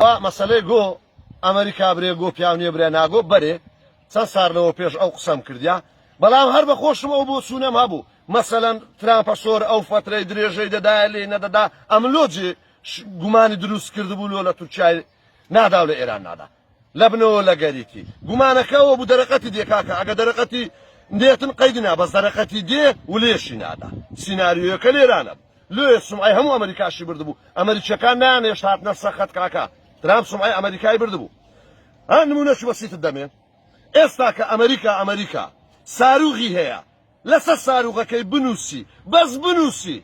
ئا مەسەلەی گۆ ئەمریکا برێ گۆ پیاو نیە برێ ناگۆ بەرێ چەند سار لەوە پێش ئەو قسەم کردیا بەڵام هەر بە خۆشم ئەو بۆ چوونەم هەبوو مەسەەن ترامپە سۆر ئەو فترەی درێژەی دەدایە لێ نەدەدا ئەملۆجی گومانی دروست کردبوو لۆ لە تورکای نادا و لە ئێران نادا لەبنەوە لەگەریتی گومانەکە ئەوەبوو دەرەقەتی دێ کاکە ئەگە دەرەقەتی نێتن قەیدی نا بەس دەرەقەتی دێ ولێشی نادا سیناریۆیەکە لێرانە بوو لۆیە سومعەی هەموو ئەمەریکاشی بردبوو ئەمەریکیەکان نانێشت هاتنە سەخەت کاکە ترام سومعەی ئەمەریکای بردبوو ها نمونەش بەسیتت دەمێ ئێستا کە ئەمەریکا ئەمەریکا ساروغی هەیە لەسەر ساروغەکەی بنووسی بەس بنووسی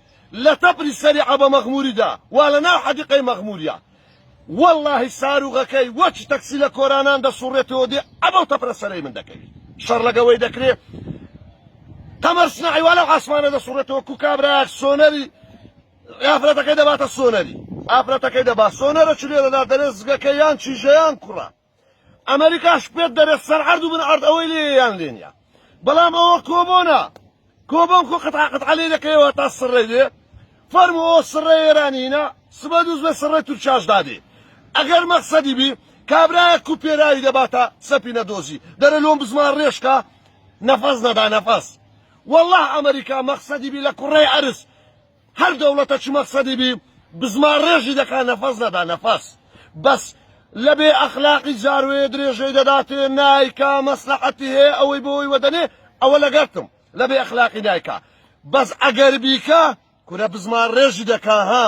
لە تەپری سەری عەبە مەغموری دا وا لە ناو حەدیقەی مەغموریا وەڵاهی ساروغەکەی وەکی تەکسی لە کۆرانان دەسوڕێتەوە دێ عەبەو تەپرە سەرەی من دەکەوی شەڕ لەگەوەی دەکرێ قەمەر سناعی وا لەو عاسمانە دەسوڕێتەوە کو کابرایەک سۆنەری ئافرەتەکەی دەباتە سۆنەری ئافرەتەکەی دەبا سۆنەرە چلێ دەدا دەرێ زگەکە یان چیژەیان کوڕە ئەمەریکاش پێت دەرێت سەر عەرد و بن عەرد ئەوەی لێ یان لێ نیە بەڵام ئەوە کۆبۆنە کۆبۆن خۆ قەتعا قەتعا لێ دەکەیەوە تا سڕێ دێ فەرمو ئەو سڕێ ئێرانینە سبە دووز بە سڕێ تورکیاش دادێ ئەگەر مەقسەدی بی کابرایە کوپێراوی دەباتە سەپینە دۆزی دەرە لۆم بزمان ڕێشکە نەفەس نەدا نەفەس والله ئەمریکا مەقسەدی بی لە کوڕەی عەرس هەر دەوڵەتە چ مەقسەدی بی بزمان ڕێژی دەکا نەفەس نەدا نەفەس بەس لە بێ ئەخلاقی جاروێ درێژەی دەداتێ نایکا مەسلەحەتی هەیە ئەوەی بۆی وەدەنێ ئەوە لەگەرتم لە بێ ئەخلاقی نایکا بەس ئەگەر بیکا کورە بزمان ڕێژی دەکا ها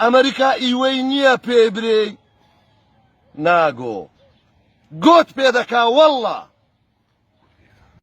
ئەمریکا ئیوەی نییە پێ برێی ناگۆ گۆت پێ دەکا واللە